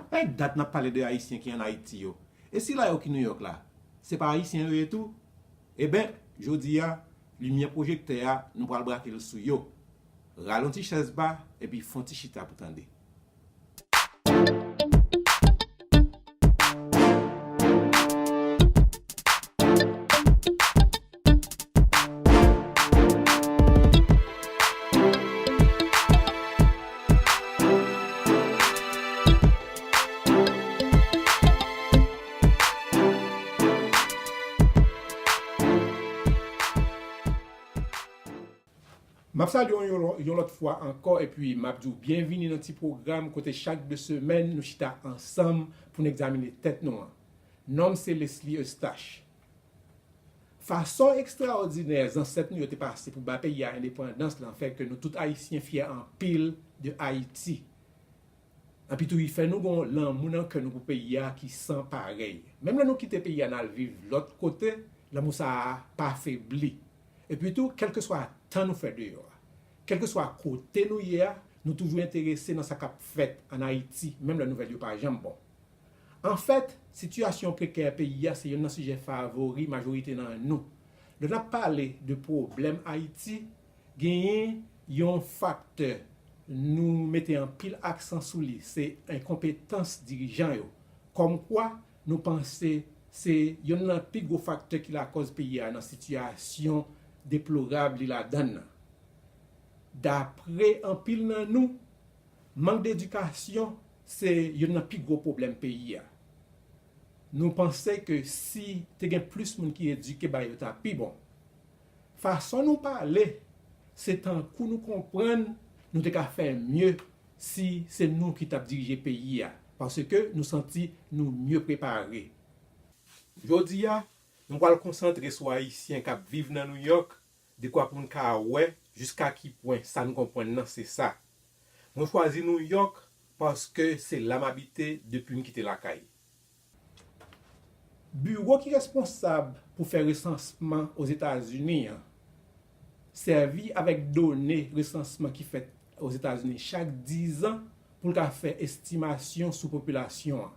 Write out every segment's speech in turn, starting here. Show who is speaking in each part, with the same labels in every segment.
Speaker 1: Ap pèd dat nap pale de ayisyen ki an ayiti yo e sila yo ki nouyòk la se pa ayisyen yo ye tou eben jodi a limyè pwojektè a nou pral brake l sou yo ralonti chèz ba epi fon ti chita pou tande. M ap salye w yon lòt fwa ankò epi m ap di w byenvini nan ti pwogram kote chak de semèn nou chita ansanm pou n egzamine tèt nou an. Non m se Leslie Eustache. Fason ekstraòdinè zansèt nou yo te pase pou bay peyi a endepandans lan fè ke nou tout Ayisyen fyè anpil de Ayiti. Enpi tou li fè nou gon lanmou nan kè nou pou peyi a ki san parèy. Menm lè nou kite peyi a nal viv lòt kote, lanmou sa a pa febli. Epi tou, kèlkeswa tan nou fè deyò a, kèlkeswa kote nou ye a, nou toujou enterese nan sa kap fèt an Ayiti menm lè nouvèl yo pa janm bon. Anfèt, sitiyasyon prekè peyi a se youn nan sijè favori majorite nan nou. Lè n ap pale de pwoblèm Ayiti, genyen yon faktè nou mete anpil aksan sou li, se enkonpetans dirijan yo. Kòmkwa, nou panse se youn nan pi gwo faktè ki lakòz peyi a nan sitiyasyon deplorab li ladan l lan. Dapre anpil nan nou, Mank d'edikasyon se youn nan pi gwo pwoblèm peyi a. Nou panse ke si te gen plis moun ki edike ba yo ta pi bon. Fason nou pale se tankou nou konprann nou te ka fè mye si se nou ki tap dirije peyi a paske nou santi nou mye prepare. Jodi a, nou pral konsantre sou Ayisyen kap viv nan Nouyòk dekwa pou n ka wè jiska ki pwen sa n konprann nan se sa. Mwen chwazi New York paske se la m abite depi m kite lakay. Biwo ki responsab pou fè resansman Ozetazini an sèvi avèk done resansman ki fèt Ozetazini chak dizan pou l ka fè estimasyon sou popilasyon an.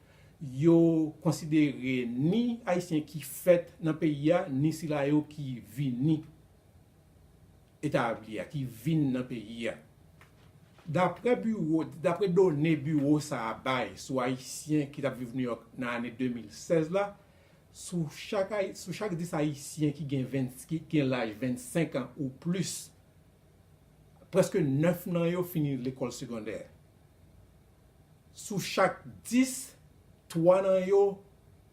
Speaker 1: Yo konsidere ni Ayisyen ki fèt nan peyi a, ni sila yo ki vini etabli a, ki vin nan peyi a. Dapre biwo, dapre done biwo sa a bay sou Ayisyen ki t ap viv Nouyòk nan ane 2016 la, sou chak Ay, sou chak 10 Ayisyen ki gen 20, ki gen laj 25 an ou plis, prèske 9 nan yo fini lekòl segondè. Sou chak 10, 3 nan yo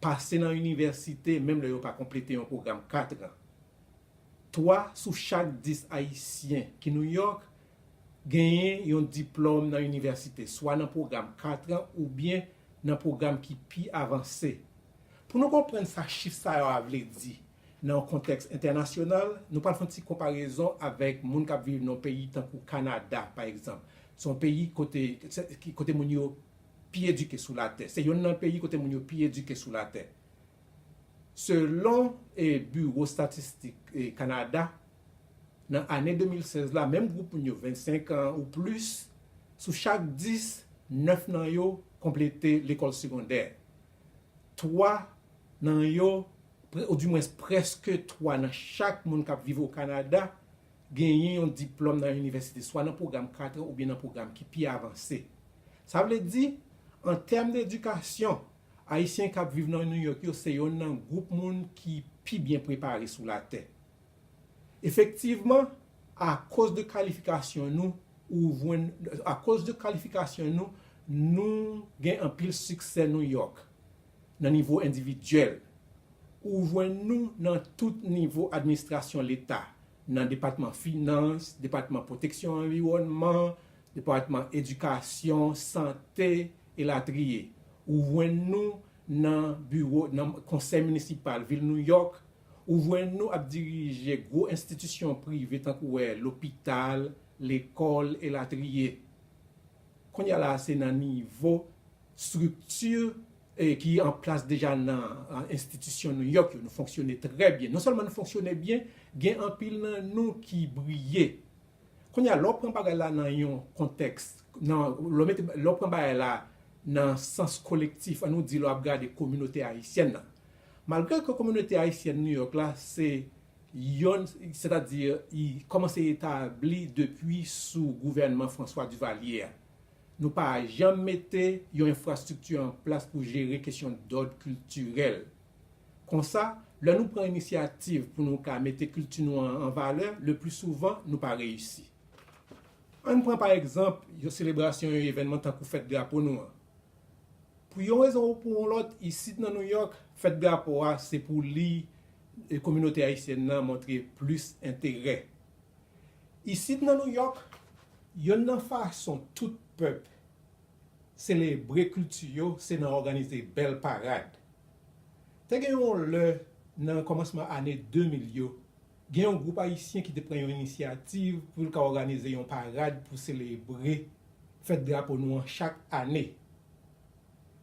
Speaker 1: pase nan inivèsite menm lè yo pa konplete yon pwogram 4 an. 3 sou chak 10 Ayisyen ki New York genyen yon diplòm nan inivèsite, swa nan pwogram 4 an oubyen nan pwogram ki pi avanse. Pou nou konprann sa chif sa yo a vle di, Nan yon kontèks entènasyonal, nou pral fè yon ti konparezon avèk moun k ap viv nan yon peyi tankou Kanada, pa egzanp. Se yon peyi kote, kote moun yo pi edike sou latè. Se yonn nan peyi kote moun yo pi edike sou latè. Selon Biwo Estatistik Kanada, nan ane 2016 la, menm gwoup moun yo, 25 an ou plis, sou chak 10, 9 nan yo konplete lekòl segondè. 3 nan yo, ou di mwens prèske 3 nan chak moun k ap viv Okanada genyen yon diplòm nan inivèsite, swa nan pwogram 4 an oubyen nan pwogram ki pi avanse. Sa vle di, an tèm de edikasyon, Ayisyen k ap viv nan New York yo se yonn nan gwoup moun ki pi byen prepare sou latè. Efektivman, akoz de kalifikasyon nou, ou jwenn, akoz de kalifikasyon nou, nou gen anpil siksè New York nan nivo endividyèl. Ou jwenn nou nan tout nivo administrasyon leta, nan depatman finans, depatman pwoteksyon anviwònman, depatman edikasyon, sante, elatriye. Ou jwenn nou nan biwo, nan konsèy minisipal vil New York, Ou jwenn nou ap dirije gwo enstitisyon prive tankou wè lopital, lekòl e latriye. Kounye a la a se nan nivo estrikti ki an plas deja nan enstitisyon New York yo nou fonksyone trè byen. Non sèlman nou fonksyone byen, gen anpil nan nou ki briye. Kounye a lè w pran bagay la nan yon kontèks, lè w pran bagay la nan sans kolektif, an nou di lè w ap gade kominote ayisyèn nan, Malgre ke kominote ayisyèn New York la se yonn sètadi li kòmanse etabli depi sou gouvènman François Duvalier a, nou pa janm mete yon enfrastrikti an plas pou jere kesyon dòd kiltirèl. Konsa, lè nou pran inisyativ pou nou ka mete kilti nou an an valè, lepli souvan nou pa reyisi. Ann pran pa egzanp yon selebrasyon, yon evènman tankou fèt drapo nou an. Pou yon rezon ou pou yon lòt, isit nan New York, fèt drapo a se pou li kominote ayisyèn nan montre plis enterè. Isit nan New York, yonn nan fason tout pèp selebre kilti yo se nan òganize bèl parad. Te gen yon lè nan kòmansman ane 2000 yo, Gen yon gwoup ayisyen ki te pran yon inisyativ pou l ka òganize yon parad pou selebre fèt drapo nou an chak ane.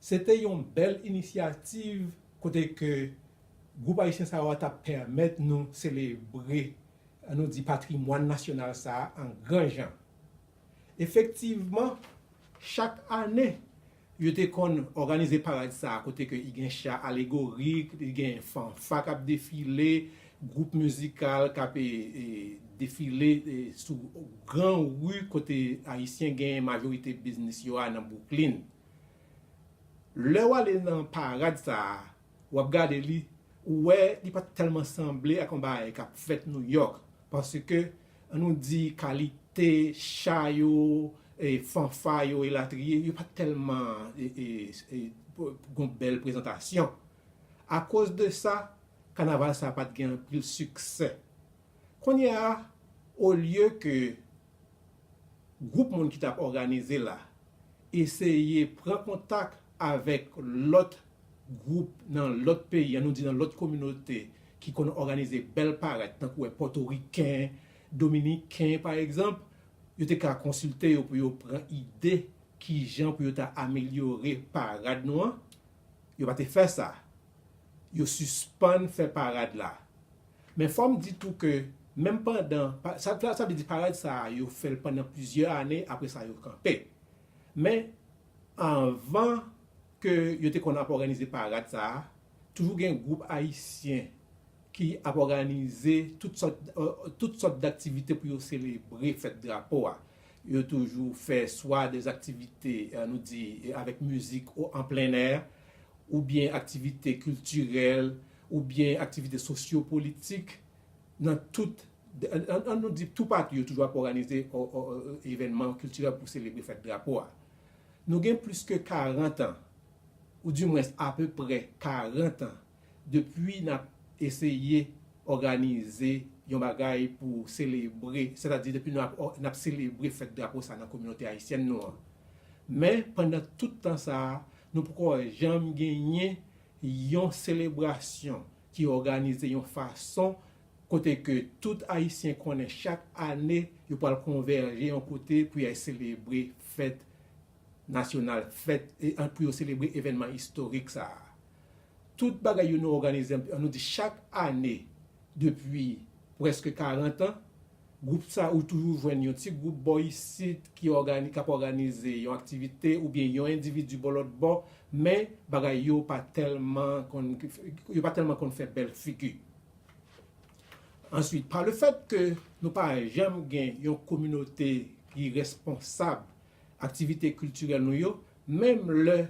Speaker 1: Se te yon bèl inisyativ kote ke gwoup ayisyen sa yo a t ap pèmèt nou selebre, an nou di, patrimwàn nasyonal sa a an gran jan. Efektivman, chak ane, Yo te konn òganize parad sa a kote ke i gen cha alegorik, li gen fanfa kap defile, gwoup mizikal kap defile sou gran ri kote Ayisyen genyen majorite biznis yo a nan Bwouklin. Lè w ale nan parad sa a, wap gade li, ou wè li pa tèlman sanble ak yon bagay kap fèt Nouyòk paske An nou di kalite cha yo, fanfa yo elatriye, yo pa t tèlman gon bèl prezantasyon. Akoz de sa, kanaval sa pa t gen anpil siksè. Kounye a, olye ke gwoup moun ki t ap òganize l la eseye pran kontak avèk lòt gwoup nan lòt peyi, an nou di nan lòt kominote ki konn òganize bèl parèt tankou wè pòtoriken, dominiken pa egzanp, yo te ka konsilte yo pou yo pran ide kijan pou yo ta amelyore parad nou an, yo pa te fè sa, yo sispann fè parad la. Men fò m di tou ke menm pandan, sa vle di parad sa a yo fè l pandan plizyè ane apre sa yo kanpe. Men anvan ke yo te konn ap òganize parad sa a, toujou gen gwoup ayisyen ki ap òganize tout sòt tout sòt daktivite pou yo selebre fèt drapo a. Yo toujou fè swa de aktivite nou di avèk mizik an plennè, oubyen aktivite kiltirèl, oubyen aktivite sosyo politik nan tout an nou di toupatou yo toujou ap òganize evènman kiltirèl pou selebre fèt drapo a. Nou gen plis ke 40 an, ou di mwens apeprè 40 an, depi n ap eseye òganize yon bagay pou selebre, sètadi depi nou ap n ap selebre fèt drapo sa a nan kominote ayisyèn nou an. Men, pandan tout tan sa a, nou poko janm genyen yon selebrasyon ki òganize yon fason kote ke tout Ayisyen konnen chak ane yo pral konvèje yon kote pou yay selebre fèt nasyonal, fèt, pou yo selebre evènman istorik sa a. Tout bagay yo nou òganize, an nou di chak ane depi prèske karantan, gwoup sa ou toujou jwenn yon ti gwoup bò isit ki ap òganize yon aktivite oubyen yon endividi bò lòt bò, men bagay yo pa tèlman konn, yo pa tèlman konn fè bèl figi. Answit, pa le fèt ke nou pa janm gen yon kominote ki responsab aktivite kiltirèl nou yo, menm lè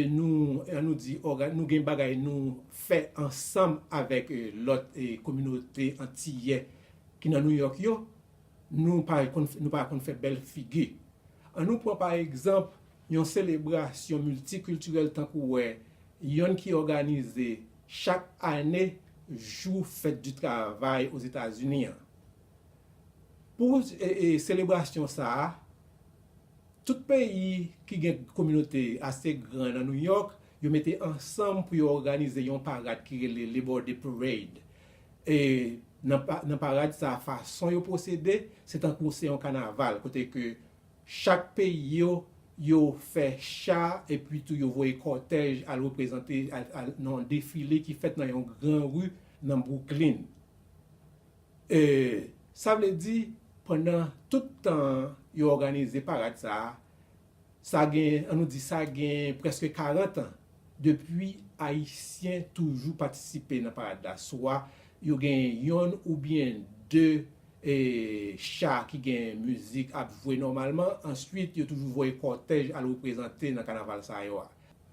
Speaker 1: nou, an nou di, nou gen bagay nou fè ansanm avèk lòt kominote antiyè ki nan Nouyòk yo, nou pa konn fè bèl figi. An nou pran pa egzanp yon selebrasyon miltikiltirèl tankou wè yonn ki òganize Chak ane, jou fèt di travay Ozetazini an. Pou selebrasyon sa a, tout peyi ki gen kominote ase gran nan New York, yo mete ansanm pou yo òganize yon parad ki rele Labor Day Parade. E nan parad sa a, fason yo pwosede, se tankou se yon kanaval kote ke Chak peyi yo, yo fè cha epi tou yo voye kòtèj al reprezante al nan yon defile ki fèt nan yon gran ri nan Bwouklin. E sa vle di pandan tout tan yo òganize parad sa a, sa gen, an nou di sa gen prèske karantan depi Ayisyen toujou patisipe nan parad la swa Yo gen yonn oubyen 2 e cha ki gen mizik ap jwe nòmalman, answit yo toujou voye kòtèj al reprezante nan kanaval sa yo a.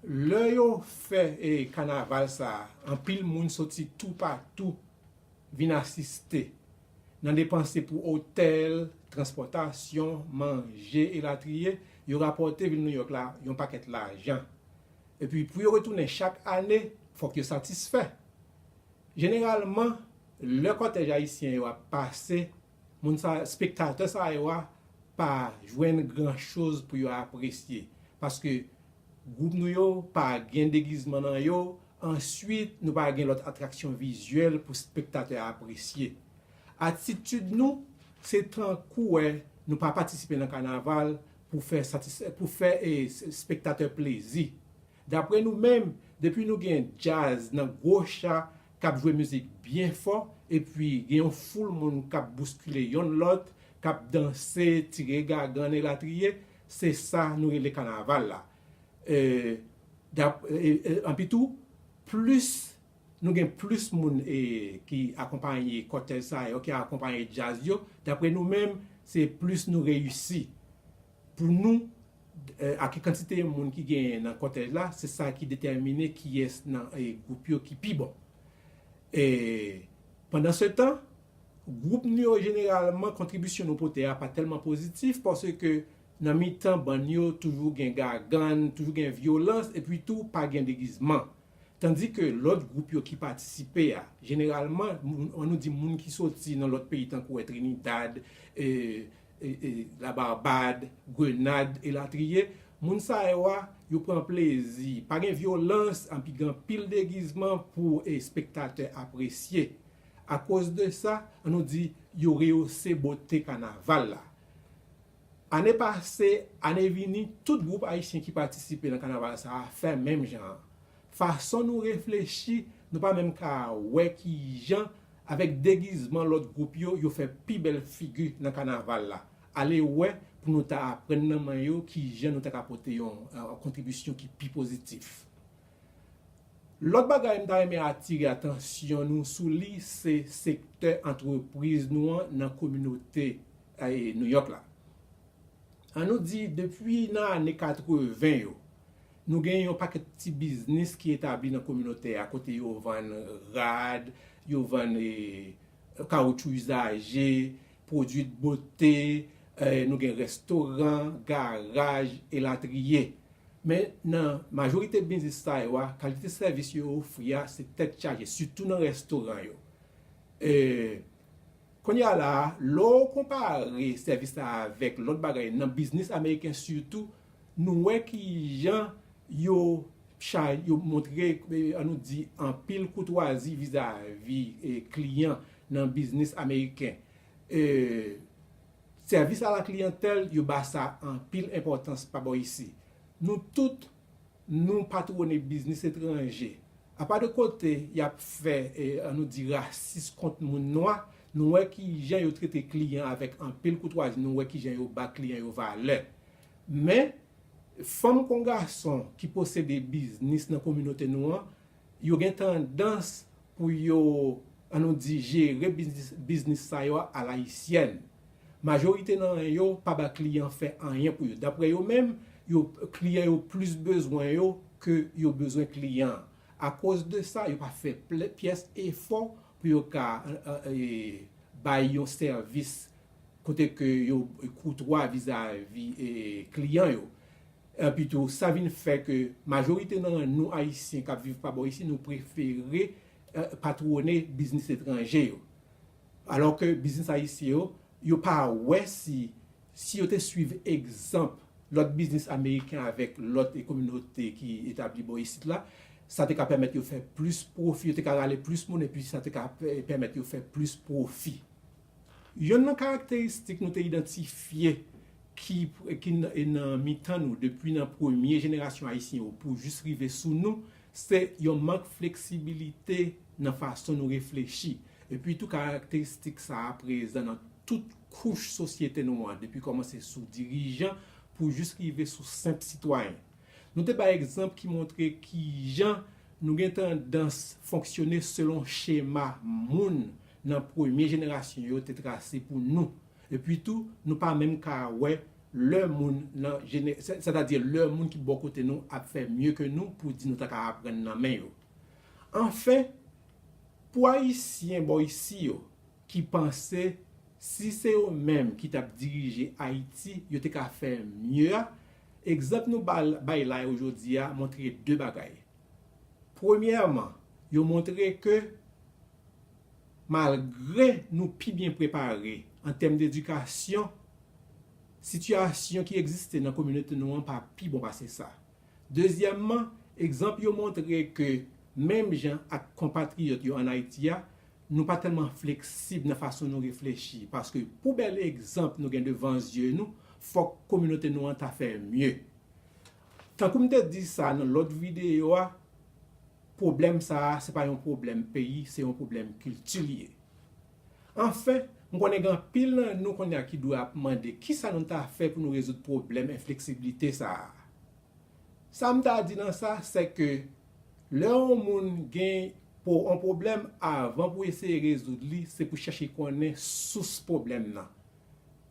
Speaker 1: Lè yo fè e kanaval sa anpil moun soti tou pa tou vin asiste, nan depanse pou otèl, transpòtasyon, manje elatriye, yo rapòte vil Nouyòk la yon pakèt lajan. Epi pou yo retounen chak ane fòk yo satisfè. Jeneralman, lè kòtèj ayisyen yo ap pase, moun sa, spektatè sa yo a pa jwenn gran choz pou yo apresye, paske gwoup nou yo pa gen degizman nan yo, answit nou pa gen lòt atraksyon vizyèl pou spektatè a apresye. Atitid nou, se tankou wè nou pa patisipe nan kanaval pou fè satis, pou fè spektatè plezi. Dapre nou menm, depi nou gen djaz nan gwo cha k ap jwe mizik byen fò epi gen yon foul moun k ap bouskile yonn lòt, k ap danse, tire gagann elatriye, se sa nou rele kanaval la. Epi tou, plis nou gen plis moun ki akonpanye kòtèj sa yo, ki akonpanye djaz yo, dapre nou menm, se plis nou reyisi. Pou nou, ak kantite moun ki genyen nan kòtèj la, se sa ki detèmine kiyès nan gwoup yo ki pi bon. Pandansetan, gwoup nou yo jeneralman kontribisyon nou pote a pa tèlman pozitif paske nan mitan bann yo toujou gen gagann, toujou gen vyolans epi tou pa gen degizman. Tandike lòt gwoup yo ki patisipe a, jeneralman, an nou di moun ki soti nan lòt peyi tankou Trinidad, la Barbad, Grenad elatriye, moun sa yo a yo pran plezi, pa gen vyolans anpi gen anpil degizman pou espektatè apresye. Akoz de sa, an nou di yo reyose bote kanaval la. Ane pase, ane vini, tout gwoup ayisyen ki patisipe nan kanaval sa a fè menm jan an. Fason nou reflechi, nou pa menm ka wè ki jan avèk degizman lòt gwoup yo, yo fè pi bèl figi nan kanaval la. Ale wè pou nou ta aprann nan men yo ki jan nou ta ka pote yon kontribisyon ki pi pozitif. Lòt bagay m ta renmen atire atansyon nou sou li se sektè antrepriz nou an nan kominote Nouyòk la. An nou di depi nan ane 80 yo, Nou gen yon pakèt ti biznis ki etabli nan kominote a kote yo vann rad, yo vann kawotchou izaje, pwodui dbote, nou gen restoran, garaj, elatriye. Men nan majorite biznis sa yo a, kalite sèvis yo ofri a se tèt chaje, sitou nan restoran yo. Kounye a la a, lè w konpare sèvis la avèk lòt bagay nan biznis ameriken sitou, Nou wè ki jan yo chay, yo montre, an nou di, anpil koutwazi vizavi kliyan nan biznis ameriken. Sèvis a la kliyantèl, yo ba sa anpil enpòtans pa bò isi. Nou tout, nou patwone biznis etranje. Apa de kote y ap fè, an nou di, rasis kont moun nwa, nou wè ki jan yo trete kliyan avèk anpil koutwazi, nou wè ki jan yo ba kliyan yo valè. Men, fanm kon gason ki posede biznis nan kominote nou an, yo gen tandans pou yo, an nou di, jere biznis sa yo alayisyèn. Majorite nan yo pa ba kliyan fè anyen pou yo. Daprè yo menm, yo, kliyan yo plis bezwen yo ke yo bezwen kliyan an. Akoz de sa, yo pa fè pyès efò pou yo ka bay yon sèvis kote ke yo koutwa vizavi kliyan yo. Epi tou, sa vin fè ke majorite nan nou Ayisyen k ap viv pa bò isi, nou prefere patwone biznis etranje yo. Alò ke biznis Ayisyen yo, yo pa wè si, si yo te swiv egzanp lòt biznis Ameriken avèk lòt kominote ki etabli bò isit la, sa te ka pèmèt yo fè plis pwofi, yo te ka rale plis moun epi sa te ka pèmèt yo fè plis pwofi. Yonn nan karakteristik nou te idantifye ki nan mitan nou depi nan premye jenerasyon Ayisyen yo pou jis rive sou nou, se yon mank fleksibilite nan fason nou reflechi. Epi tou karakteristik sa a prezan nan tout kouch sosyete nou an depi kòmanse sou dirijan pou jis rive sou senp sitwayen. Nou te bay egzanp ki montre kijan nou gen tandans fonksyone selon chema moun nan premye jenerasyon yo te trase pou nou. Epi tou, nou pa menm ka wè lè moun nan jene, sètadi lè moun ki bò kote nou ap fè mye ke nou pou di nou ta ka aprann nan men yo. Anfen, pou Ayisyen bò isi yo ki panse si se yo menm ki t ap dirije Ayiti yo te ka fè mye a, egzanp nou bay la yo jodi a montre de bagay. Premyèman, yo montre ke. Malgre nou pi byen prepare an tèm dedikasyon, sitiyasyon ki egziste nan kominote nou an pa pi bon pase sa. Dezyèmman, egzanp yo montre ke menm jan ak konpatriyòt yo ann Ayiti a, nou pa tèlman fleksib nan fason nou reflechi, paske pou bèl egzanp nou gen devan zye nou, fòk kominote nou an ta fè mye. Tankou m te di sa nan lòt videyo a, Pwoblèm sa a se pa yon pwoblèm peyi, se yon pwoblèm kilti li ye. Anfen, m konnen gen anpil nan nou kounye a ki dwe ap mande ki sa nou ta fè pou nou rezoud pwoblèm enfleksiblite sa a. Sa m ta di nan sa, se ke lè yon moun gen yon pwoblèm, avan pou eseye rezoud li, se pou chèche konnen sous pwoblèm nan.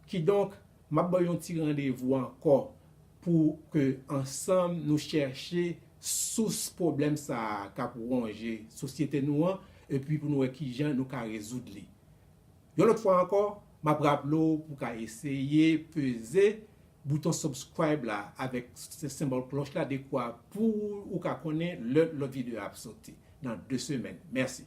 Speaker 1: Kidonk, m ap ba w yon ti randevou ankò pou ke ansanm nou chèche sous pwoblèm sa a k ap wonje sosyete nou an epi pou nou wè kijan nou ka rezoud li. Yon lòt fwa ankò, m ap raple w pou w ka eseye peze bouton subscribe la avèk senbòl klòch la dekwa pou ou ka konnen lè lòt videyo a ap soti nan 2 semèn. Mèsi!